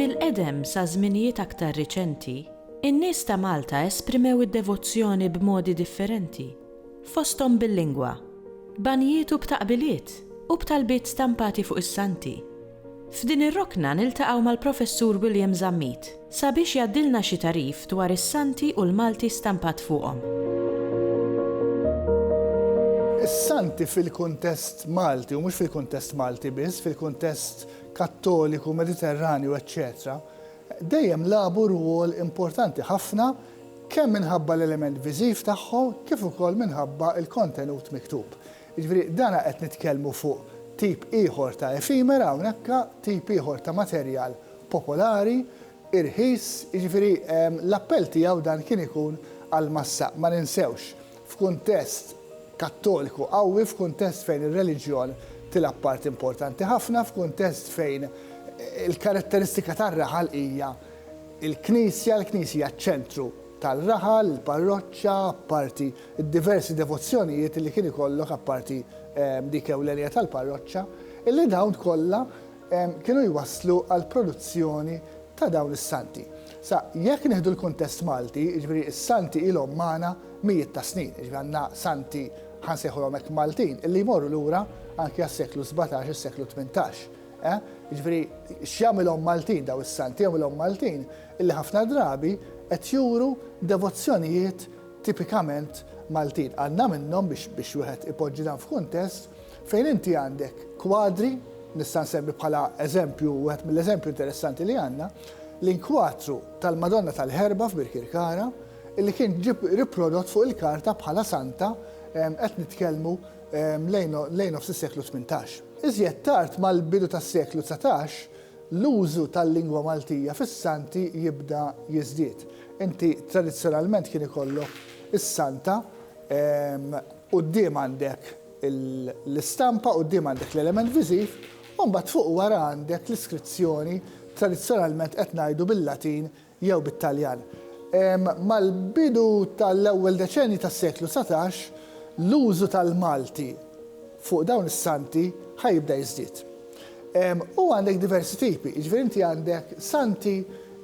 Mill-qedem sa żminijiet aktar riċenti, in-nies ta' Malta esprimew id-devozzjoni b'modi differenti, fosthom bil-lingwa, b'għanjiet u b'taqbiliet, u b'talbiet stampati fuq is-santi. F'din ir-rokna niltaqgħu mal-Professur William Zammit sabiex jgħaddilna xi tagħrif dwar is-Santi u l-Malti stampat fuqhom. Is-Santi fil-kuntest Malti, u mhux fil-kuntest Malti biss, fil-kuntest Kattoliku, Mediterranju, eċċetera, dejjem lagħbu rwol importanti ħafna kemm minħabba l-element viżiv tagħhom kif ukoll minħabba l-kontenut miktub. Jiġifieri dan qed nitkellmu fuq tip ieħor ta' efimera hawnhekk, tip ieħor ta' materjal popolari, irħis, jiġifieri l-appell tiegħu dan kien ikun għall-massa. Ma ninsewx, f'kuntest Kattoliku qawwi, f'kuntest fejn ir-reliġjon tilgħab parti importanti ħafna, f'kuntest fejn il-karatteristika tar-raħal hija l-Knisja, l-Knisja ċ-ċentru. tar-raħal, il-parroċċa, apparti d-diversi devozzjonijiet li kien ikollok apparti dik ewlenija tal-parroċċa, illi dawn kollha kienu jwasslu għall-produzzjoni ta' dawn is-santi. Sa jekk nieħdu l-kuntest Malti, jiġifieri s-santi ilhom magħna mijiet ta' snin, jiġifieri għandna santi, ħa nsejħulhom hekk Maltin, illi jmorru lura anki għas-seklu sbatax, is-seklu tmintax. Eh? Jiġifieri x'jagħmilhom Maltin daw is-santi? Jagħmilhom Maltin illi ħafna drabi qed juru devozzjonijiet tipikament Maltin. Għandna minnhom biex biex wieħed ipoġġi dan f'kuntest fejn inti għandek kwadri, nista' nsemmi bħala eżempju, wieħed mill-eżempju interessanti li għandna, l-inkwatru tal-Madonna tal-Ħerba f'Birkirkara, illi kien ġib riprodott fuq il-karta bħala santa, qed nitkellmu lejn nofs is-seklu tmintax. Iżjed tard mal-bidu tas-seklu dsatax, l-użu tal-lingwa Maltija fis-Santi jibda jiżdied. Inti tradizzjonalment kien ikollok is-Santa quddiem għandek l-istampa, quddiem għandek l-element viżiv, u mbagħad fuq u wara għandek l-iskrizzjoni, tradizzjonalment qed ngħidu bil-Latin, jew bit-Taljan. Mal-bidu tal-ewwel deċennji tas-seklu dsatax, l-użu tal-Malti fuq dawn is-santi ħa jibda jiżdied. U għandek diversi tipi, jiġifieri inti għandek santi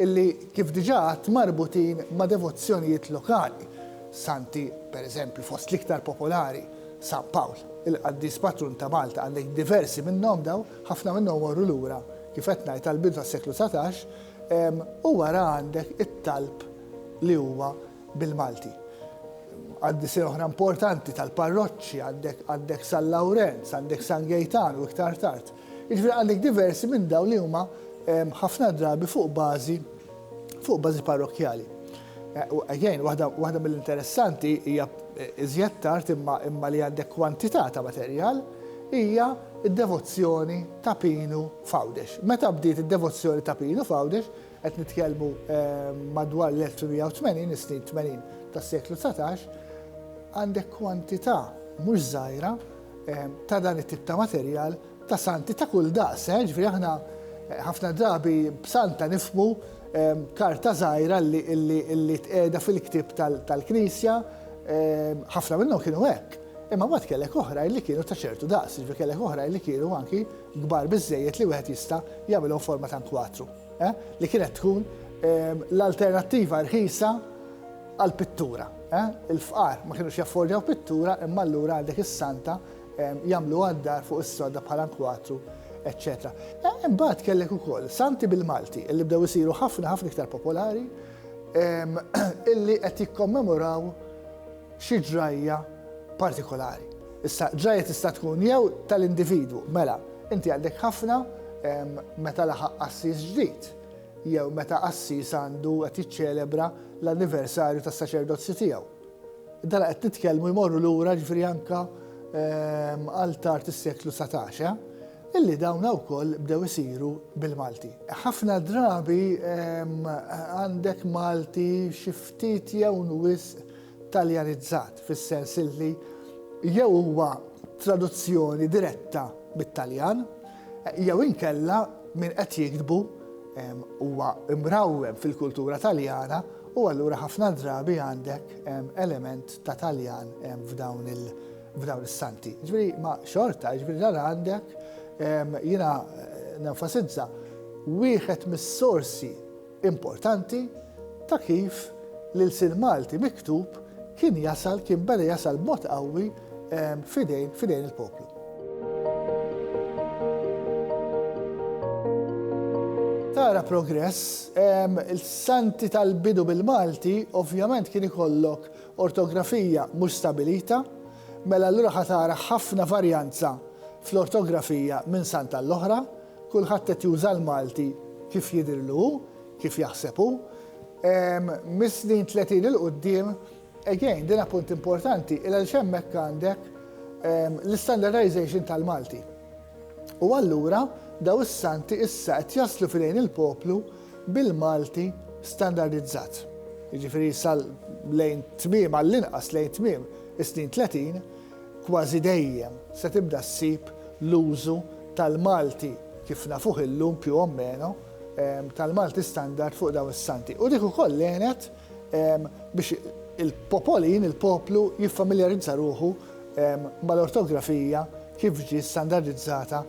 li, kif diġà għedt, marbutin ma' devozzjonijiet lokali. Santi, per eżempju, fost l-iktar popolari, San Pawl, il-qaddis patrun ta' Malta, għandek diversi minnhom dawn, ħafna minnhom morru lura, kif qed ngħid, għall-bidu tas-seklu dsatax, U wara għandek it-talb li huwa bil-Malti. Qaddisija oħra importanti tal-parroċċi għandek San Lawrenz, għandek San Gejtan u iktar tard. Jiġifieri għandek diversi minn dawn li huma ħafna drabi fuq bażi fuq bażi parrokkjali. Again, waħda mill-interessanti hija iżjed tard imma li għandek kwantità ta' materjal hija d-devozzjoni ta' Pinu f'Għawdex. Meta bdiet id-devozzjoni ta' Pinu f'Għawdex, qed nitkellmu madwar l-1880, is-snin 80 tas-seklu dsatax, għandek kwantità mhux żgħira ta' dan it-tip ta' materjal ta' santi ta' kull daqs, eh? Ġifieri aħna eh, ħafna drabi b'santa nifmu eh, karta żgħira li tqiegħda fil-ktieb tal-Knisja, eh, ħafna minnhom kienu hekk. Imma mbagħad kellek oħra li kienu ta' ċertu daqs, ġifieri kellek oħra li kienu anki kbar biżejjed li wieħed jista' jagħmilhom forma ta' kwatru, eh? li kienet tkun eh, l-alternattiva rħisa għal pittura. Eh? Il-fqar ma kienux jaffordjaw pittura imma allura għandek is-santa jagħmluha d-dar fuq is-sodda bħala nkwatru, eċċetera. Imbagħad kellek ukoll santi bil-Malti li bdew isiru ħafna ħafna iktar popolari illi qed jikkommemoraw xi ġrajja partikolari. Issa, ġrajja tista' tkun jew tal-individwu, mela, inti għandek ħafna meta laħaq qassis ġdid, jew meta qassis għandu qed jiċċelebra l-anniversarju tas-saċerdozju tiegħu. Dala qed nitkellmu jmorru lura ġifieri anke għal tard is-seklu satax, illi dawna wkoll bdew isiru bil-Malti. Ħafna drabi għandek Malti xi ftit jew wisq Taljanizzat, fis-sens illi jew huwa traduzzjoni diretta mit-Taljan, Jew inkella min qed jiktbu huwa mrawwem fil-kultura Taljana u allura ħafna drabi għandek element ta' Taljan f'dawn is-santi. Ġifieri ma xorta, ġifieri dan għandek jiena nenfasizza wieħed mis-sorsi importanti ta' kif l-ilsien Malti miktub kien jasal, kien beda jasal b'mod qawwi f'idejn, f'idejn il-poplu. Tara progress, il-santi tal-bidu bil-Malti ovvjament kien ikollok ortografija mhux stabilita, mela allura ħa tara ħafna varjanza fl-ortografija minn sant għall-oħra, Kulħadd qed juża l-Malti kif jidhirlu hu, kif jaħseb hu. Mis-snin tletin 'il quddiem, again, din appunt importanti, għaliex hemmhekk għandek l-istandardization tal-Malti. U allura dawn is-Santi issa qed jaslu f'idejn il-poplu bil-Malti standardizzat. Jiġifieri sa lejn tmiem, għall-inqas lejn tmiem is-snin tletin, Kważi dejjem se tibda ssib l-użu tal-Malti, kif nafuh illum più o meno, tal-Malti standard fuq dawn is-santi. U dik ukoll għenet biex il-popolin, il-poplu, jiffamiljarizza ruħu mal-ortografija kif ġie standardizzata